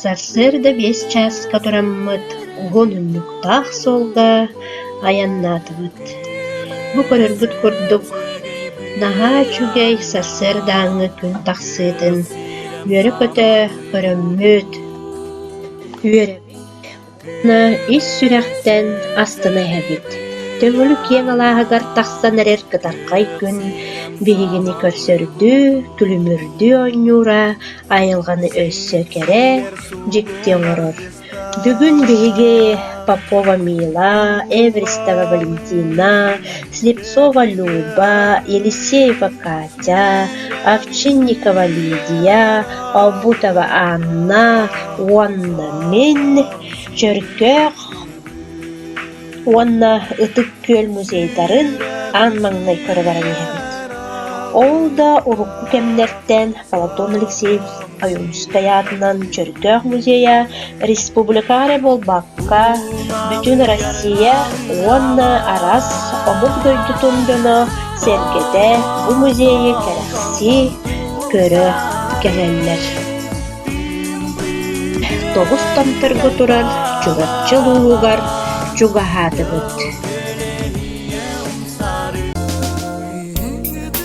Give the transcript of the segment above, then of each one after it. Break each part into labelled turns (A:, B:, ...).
A: Сарсыарда биэс чааска тураммыт уһун унньуктаах суолга айаннаатыбыт. Бу көрөргүт курдук, наһаа үчүгэй сарсыардааҥҥы күн тахсыытын үөрэ-көтө көрөммүт. Үөрэбит. ис сүрэхтэн астына иһэбит. Төҥүлүк киэҥ алааһыгар тахсан эрэр кытархай күн биһигини көрсөрдүү, күлүмүрдүү оонньуура, айылҕаны өссө кэрэ, дьикти оҥорор. Бүгүн биһиги Попова Мила, Эверстова Валентина, Слепцова Люба, Елисеева Катя, Овчинникова Лидия, Обутова Анна уонна мин Чөркөөх уонна Ытык Күөл музейдарын аан маҥнай көрө баран иһэбит. Ол да урукку кэмнэртэн Платон Алексеевич Ойуунускай аатынан Чөркөөх музейа республика эрэ буолбакка, бүтүн Россия уонна араас омук дойдутун дьоно сэргэтэ бу музейы кэрэхсии, көрө кэлэллэр. Тоҕус томторго турар Чурапчы улууһугар чугаһаатыбыт.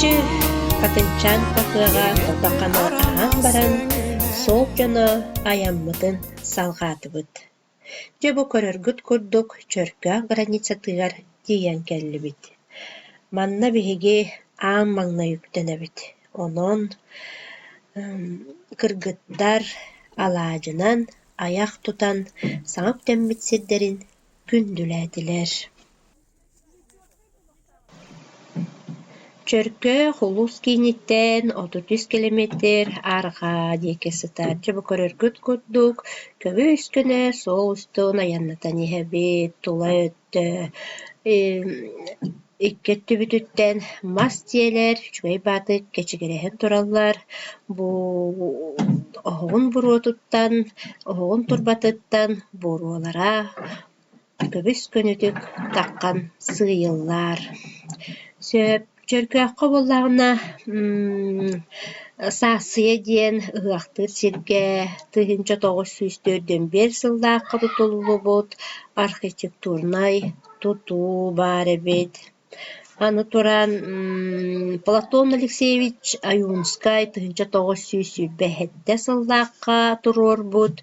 A: Чэ, Хатыҥчаан хаһыаҕа тото хана аһаан баран, суол дьоно айаммытын салҕаатыбыт. Дьэ бу көрөргүт курдук Чөркөөх границатыгар тиийэн кэллибит. Манна биһиги аан маҥнай үктэнэбит. Онон кыргыттар алаадьынан айах тутан саҥа үктэммит сирдэрин күндүлээтилэр Чөркөөх улус кииниттэн отут үс километр арҕаа диэки сытааччы бу көрөргүт курдук көбүс-көнө суол устун айаннатан иһэбит тула өттө Икки өттүбүтүттэн мас тиэлэр, үчүгэй баатык кэчигирэһэн тураллар. Бу оһоҕун буруотуттан, оһоҕун турбатыттан буруолара көбүс-көнүтүк таххан сыыйыллар. Сөп, чөркөөххө буоллаҕына саассыйа диэн ыһыахтыыр сиргэ тыһыынча тоҕус сүүс төрт дьон биэс сыллаахха тутуллубут архитектурнай тутуу баар эбит. Аны туран Платон Алексеевич Аюнскай тыһыынча тоҕус сүүс сүүрбэ сэттэ сыллаахха туруорбут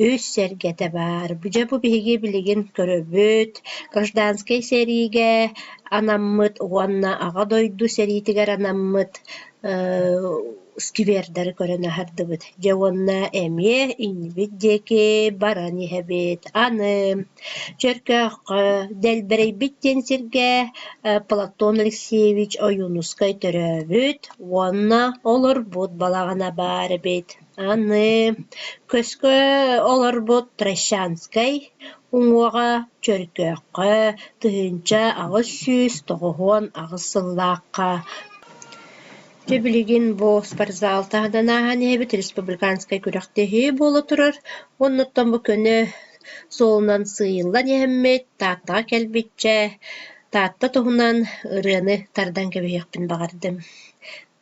A: үс сэргэтэ баар. Дьэ бу биһиги билигин көрөбүт гражданскай сэриигэ анаммыт уонна Аҕа дойду сэриитигэр анаммыт сквердары көрөн аһардыбыт. Дьэ уонна эмиэ иннибит диэки баран иһэбит. Аны Чөркөөххө, Дэлбэрэйбит диэн сиргэ Платон Алексеевич Ойуунускай төрөөбүт уонна олорбут балаҕана баар эбит. Аны көскө олорбут Трощанскай уҥуоҕа Чөркөөххө тыһыынча аҕыс сүүс тоҕуһуон аҕыс сыллаахха дьэ билигин бу спортзал таһынан ааһан иһэбит республиканскай күрэхтэһии буола турар. Оннуттан бу көнө суолунан сыыйыллан иһэммит, Тааттаҕа кэлбиччэ Таатта туһунан ырыаны тардан кэбиһиэхпин баҕардым.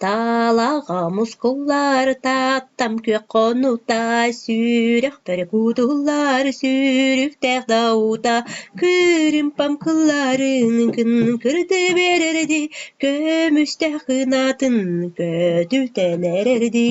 A: Таалаҕа мускуллар Тааттам күөх хонута, Сүрэх бөрө кутуллар Сүүрүктээх даута, Күрүмпэм кылларын Күн кырды биэрэрди, Көмүстээх кынаатын Көтүтэн эрэрди.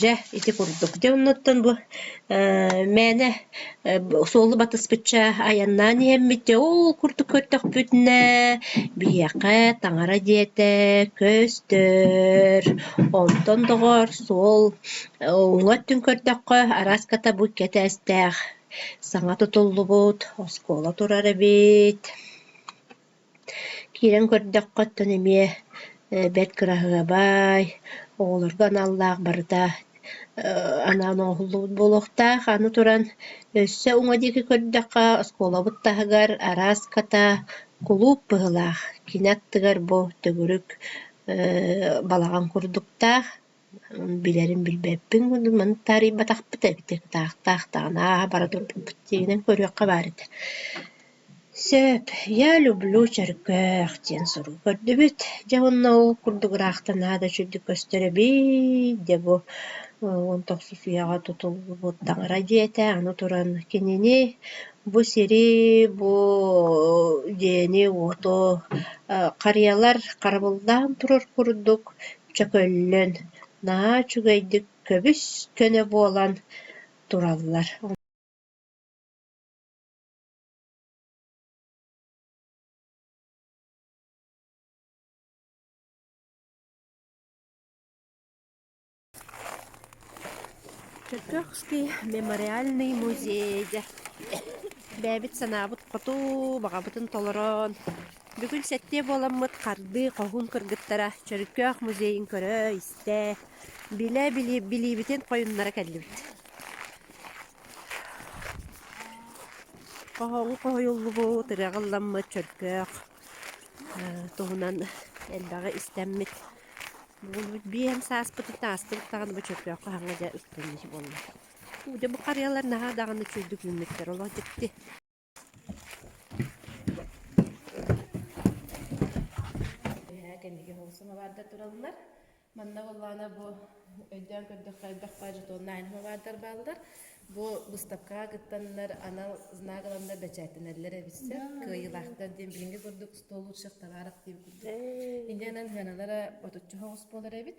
A: Дьэ, ити курдук. Дьэ, оннуттан бу ээ мээнэ суолу батыспычча айаннаан иһэммит. Дьэ, ол курдук көрдөхпүтүнэ биһиэхэ таҥара дьиэтэ көстөр. Онтон, доҕоор, суол уҥа өттүн көрдөххө араската бу икки этээстээх саҥа тутуллубут оскуола турар эбит. Киирэн көрдөххө, оттон эмиэ бэрт кыраһыабай, оҕолорго аналлаах барыта анаан оҥоһуллубут буолуохтаах. Аны туран, өссө уҥа диэки көрдөххө, оскуолабыт таһыгар араас ката, кулууп быһыылаах. Кини аттыгар бу төгүрүк балаҕан курдуктаах Билэрим билбэппин курдук маны таарыйбатахпыт эбитэ кытаахтаах даҕаны ааһа бара турбуппут дьиҥинэн көрүөххэ баар этэ сөп я люблю чөркөөх диэн сурук көрдүбүт дьэ онно ол курдук ыраахтанаа да үчүгдүк көстөр эбит дьэ бу он тохсус үйэҕэ тутуллубут таҥара дьиэтэ аны туран кинини бу сири бу дьиэни уоту харыйалар харабыллаан турар курдук Чөкөллөн наһаа үчүгэйдик көбүс-көнө буолан тураллар Чөтөхский мемориальный музей дэ бэйэбит санаабыт хоту баҕабытын толорон Бүгүн сэттиэ буоламмыт хардыы хоһуун кыргыттара Чөрүкөөх музейын көрө-истэ, билэ-били билиибитин хойуннара кэллибит. Хоһооҥу хоһуйуллубут, ырыаҕа ылламмыт Чөркөөх э, туһунан элбэҕи истэммит. Буолбут биэм сааспытыттан астыбыт даҕаны бу Чөркөөх хаһаҥа дьэ устунньуч буолла. Дьэ бу харыйалар наһаа даҕаны үчүгэйдик үүммүттэр, олох дьикти. Бэһээ кэнники холсун абаарда тураллар. Манна Уллана бу өйдөөн көрдөххө элбэх пажетоннайн мабардар баалдар. Бу быстапкаҕа кыттаннар анал знак ыланнар бэчээттэнэллэр эбиссе. Кыайылаахтар диэн билинги курдук стол лучших товаров диэн курдук. Индиянан хыаналара отучча хоҕус буолар эбит.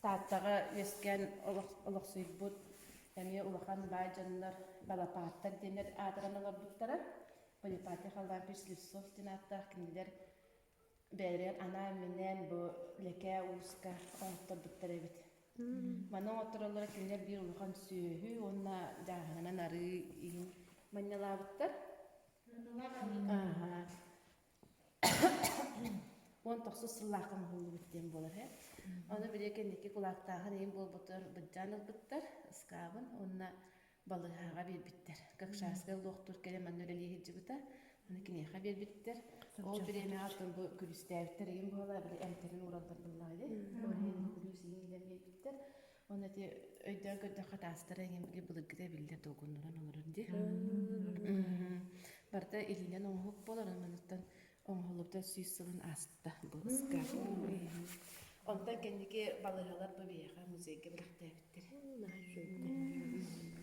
A: Тааттаҕа үөскээн олохсуйбут эмиэ улахан баай дьоннор Балапааттар диэн эр аатыран олорбуттара. Поляпатия халлаан пич Слепцов диэн ааттаах кинилэр бэйэлэригэр анаан минээн бу Лэкээ Ууска оҥотторбуттар эбит. Маны оҥоттороллоро кинилэр биир улахан сүөһү уонна дьааһынанан арыы иһин манньалаабыттар. Аха. уон тохсус сыллаахха оҥоһуллубут диэн буолар үһү. Ону били кэнники кулаактааһын иһин буолбутугар быдьаан ылбыттар ыскаабын уонна балыыһаҕа биэрбиттэр. Какшарскай лоохтур кэлэн манна үлэлии сылдьыбыта. Аны киниэхэ биэрбиттэр. Ол бириэмэҕэ атын бу күлүстээбиттэр иһин буолла били эмтэрин уураллар буоллаҕа ини. Ол иһин күлүүс иһин билэн биэрбиттэр. Оны ити өйдөөн көрдөххө таастара эҥэмги былыргыта эбиллэр долгуннуран олорор дии. Барда илиинэн оҥоһук болорон маныттан оҥоһуллубута сүүс сылын ааста быһыска. Онтон кэнники балаһалар бу биһиэхэ музейга бэлэхтээбиттэр. Наһаа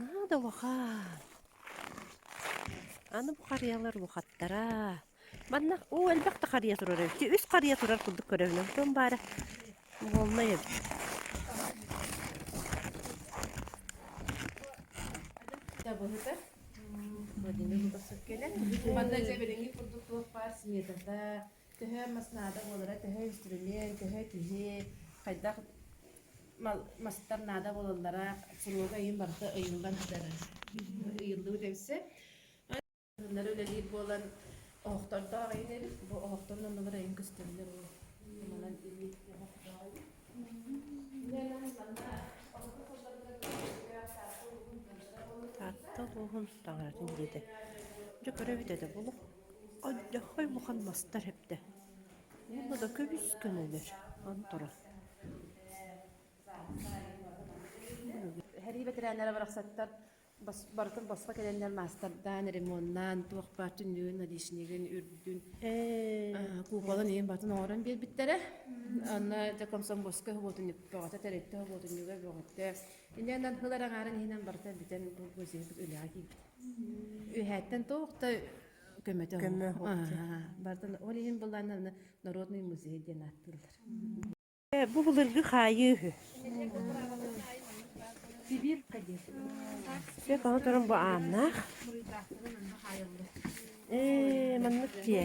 A: Наада улахан. Аны бу харыйалар улахаттара. Манна уу элбэх да харыйа турар эбит. Үс харыйа турар курдук көрөбүнэн. Тон баара буолна эбит. Табыһыта. Мадина Лубасов
B: келе. Манна дьэберинги курдук туох баар сметата, төһө мас наада буолара, төһө инструмент, төһө киһи, хайдах мастар наада буолаллара куруога ыйын барыта ыйыллан сытар ыйыллыбыт эбисэ ыннары үлэлиир буолан оһохтордоох айын эбит бу оһохторун оннулар айын көстөллөр уу манан ини оһохтоох
A: айын Таатта улууһун таҥаратын диэтэ. Дьө көрө бүтөтө булук Адьдаххай улахан мастар эптэ уонна да көбүскэн өлөр анторон
B: Эһэрии бэтэрээннэрэ барахсаттар бас барытын босхо кэлэннэр маастардаан, ремоннаан, туох бааччы нүн, отличнигын, үрдүн Ээ, куукалан иин батын оҥорон биэрбиттэрэ. Анна дьэ комсомольскай хоботунньук, бөҕөтө тэрилтэ хоботунньуга, бөҕөтө Инэн аргылар агаарын иһинэн барыта бүтэн булгу сиһитик үлэҕэ киирбит. Үһээттэн тоохта көмөтө көмө бартан ол иһин быланна народный музей диэн аттыыллар. Бу
A: былыргы хаайыы үһү.
B: Сибир кадир. Бе
A: каһы турун бу ааннаах. Э, маннык тие.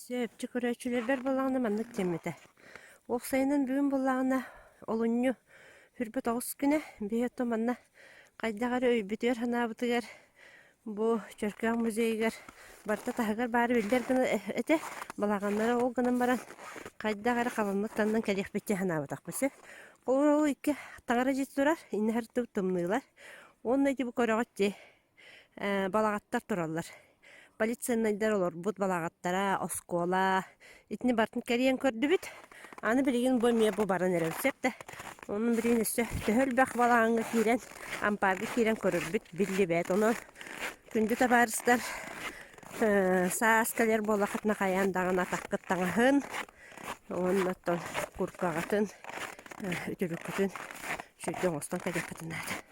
B: Сөпчө
A: көрөөччүлэрбэр буоллаҕына маннык диэммитэ: «Ол сайынын бүгүн буоллаҕына олунньу үрбүт оҕус күнэ, биһи оттон манна хайдах эрэ өйбүтүгэр-санаабытыгар бу Чөркөөх музейыгар барыта таһыгар баары биллэр гына этэ, балаҕаннара ол гынан баран хайдах эрэ хабаммыт таннан кэлиэхпит дии санаабатахпыт син. Холобура ол икки таҥара дьиэ турар, иннэ сырдыбыт тымныылар. Уонна ити бу көрөҕүт дии балаҕаттар тураллар. Полицейнайдар олорбут балаҕаттара, оскуола итини бартын кэрийэн көрдүбүт. Аны билигин бу эмиэ бу баран эрэр сөп да. Онон билигин өссө төһө элбэх балаҕаҥҥа киирэн, ампаарга киирэн көрөрбүт биллибэт. Онон күндү табаарыстар саас кэлэр буоллаххытына хайаан даҕаны атаххыт таҥаһын уонна оттон курткаҕытын, үтүлүккүтүн сүрдэ оҥостон кэлиэххитин наада.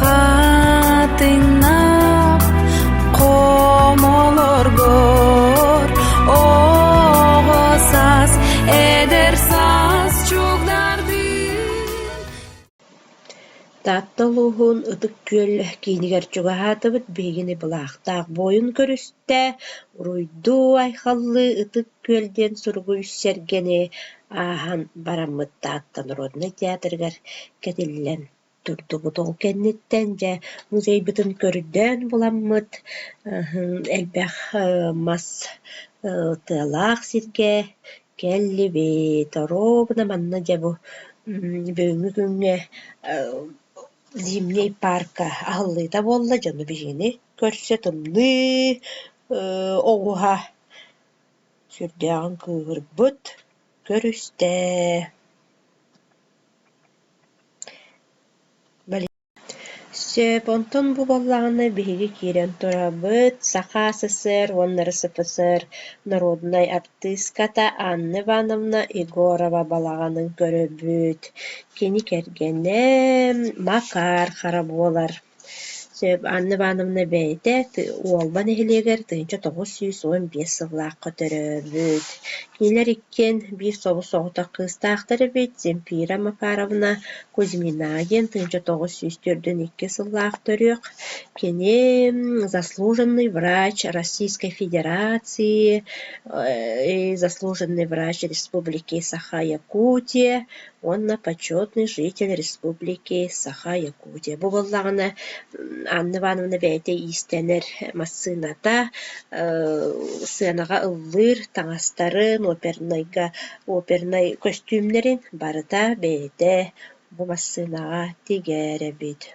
C: Хатыҥнап хомолоргор оҕо саас эдэр саас чугдардыын
A: Таатта улууһун Ытык Күөл киинигэр чугаһаатыбыт. Биһигини былаахтаах буойун көрүстэ. Уруйдуу, айхаллыы Ытык Күөл диэн суругуй сэргэни ааһан бараммыт Таатта народнай театрыгар кэтиллэн турдубут. Ол кэнниттэн дьэ музейбытын көрдөөн буламмыт, элбэх мас тыалаах сиргэ кэллибит. Оруобуна манна дьэ бу бүгүҥҥү күҥҥэ Зимний парка аһыллыыта буолла. Дьону биһигини көрсө тымныы оҕуһа сүрдээҕин кыыһырбыт, көрүстэ. Сөп, онтон бу буоллаҕына биһиги киирэн турабыт Саха СССР уонна РСФСР норуодунай артыыската Анна Ивановна Егорова балаҕанын көрөбүт. Кини кэргэнэ Макар Хара буолар. Анна Ивановна бэйэтэ Уолба нэһилиэгэр тыһыынча тоҕус сүүс уон биэс сыллаахха төрөөбүт. Кинилэр иккиэн биир собус соҕотох кыыстаахтар эбит. Земфира Макаровна Кузьмина диэн тыһыынча тоҕус сүүс төрдүн икки сыллаах төрүөх. Кини заслуженный врач Российской Федерации, заслуженный врач республики Саха-Якутия уонна почетный житель республики саха якутия бу буоллаҕына Анна Ивановна бэйэтэ иистэнэр массыыната сыанаҕа ыллыыр таҥастарын опернайга опернай көстүүмнэрин барыта бэйэтэ бу массыынаҕа тигээрэбит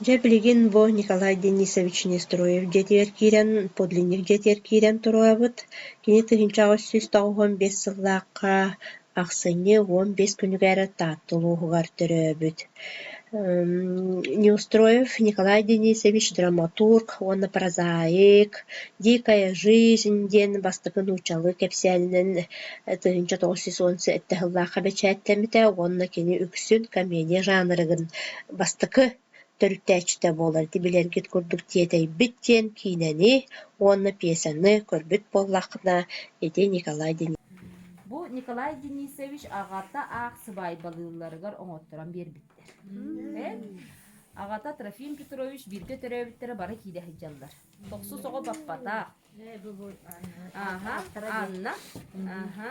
A: Дьэ билигин бу Николай Денисович Нестроев дьиэтигэр киирэн, подлинник дьиэтигэр киирэн туруорабыт. Кини тыһыынча аҕыс сүүс тоҕуһун биэс сыллаахха ахсынньы уон биэс күнүгэр Таатта улууһугар төрөөбүт. Неустроев Николай Денисович драматург уонна прозаик «Дикая жизнь» диэн бастакы нууччалыы кэпсээнинэн тыһыынча тоҕус сүүс уон сэттэ сыллаахха бэчээттэммитэ уонна кини үксүн комедия жанрыгын бастакы төрүттээччитэ буолар ити билэргит курдук тиэтэйбит диэн киинэни уонна пьесаны көрбүт буоллаххына ити Николай Бу Николай
D: Денисович аҕата аах сыбаайбалыылларыгар оҥотторон биэрбиттэр. Аҕата Трофим Петрович бииргэ төрөөбүттэрэ бары киирэ сылдьаллар. Тохсус оҕо баппатах. Ааха, Анна. Ааха,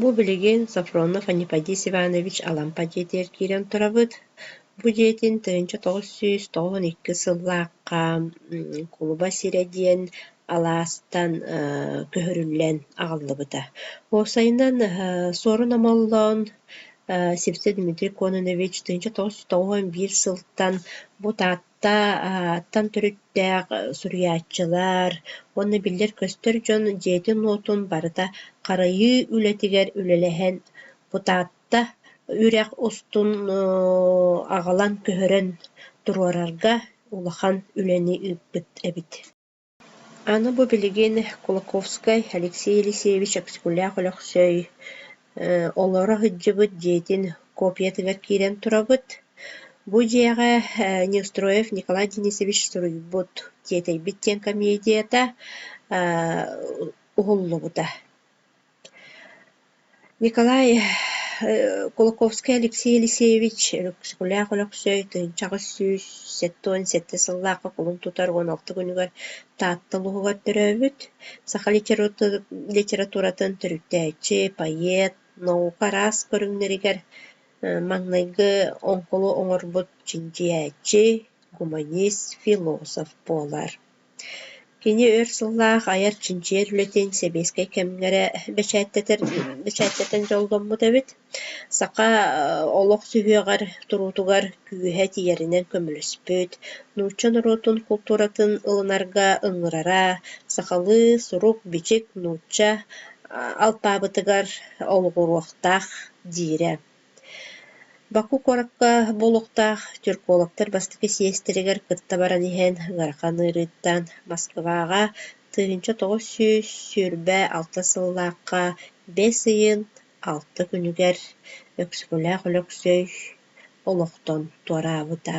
A: Бу билигин Софронов Аниподий Иванович Алампа дьиэтигэр киирэн турабыт. Бу дьиэтин тыһыынча тоҕус сүүс тоҕуһун иккис сыллаахха кулуба сирэ диэн алаастан көһөрүллэн аҕаллыбыта. Уопсайынан Суорун Омоллоон Сипсэ Дмитрий Кононович тыһыынча тоҕус сүүс тоҕуһун биир сылтан бу Таатта Тааттан төрүттээх суруйааччылар уонна биллэр-көстөр дьон дьиэтин-уотун барыта харайыы үлэтигэр үлэлэһэн Бутатта үрэх устун аҕалан көһөрөн туруорарга улахан үлэни ыыппыт эбит Аны бу билигин Кулаковскай Алексей Елисеевич Аксакулаах Өлөксөй олоро сылдьыбыт дьиэтин копиятыгар киирэн турабыт. Бу дьиэҕэ Неустроев Николай Денисович суруйбут «Тиэтэйбит» диэн комедията уһуллубута. Николай Кулаковский Алексей Алексеевич Өксөкүлээх Өлөксөй тыһыынча аҕыс сүүс сэттэ уон сэттэ сыллаахха кулун тутар уон алта күнүгэр Таатта улууһугар төрөөбүт саха литературатын төрүттээччи, поэт, наука араас көрүҥнэригэр маҥнайгы оҥкулу оҥорбут чинчийээччи, гуманист, философ буолар. Кини өр сыллаах айар чинчийэр үлэтин сэбиэскэй кэмнэрэ бэчээттэтэр бэчээттэтэн дьолломмут эбит. Саха олох сүһүөҕэр, туруутугар күүһэ тиийэринэн көмөлөспүт, нуучча норуотун култууратын ылынарга ыҥырара, сахалыы сурук-бичик нуучча алпаабытыгар олоҕуруохтаах диирэ. Баку куоракка бу олохтоох тюркологтар бастакы сиэстэригэр кытта баран иһэн ыарахан ыарыыттан Москваҕа тыһыынча тоҕус сүүс сүүрбэ алта сыллаахха бэс ыйын алта күнүгэр Өксөкүлээх Өлөксөй олохтон туораабыта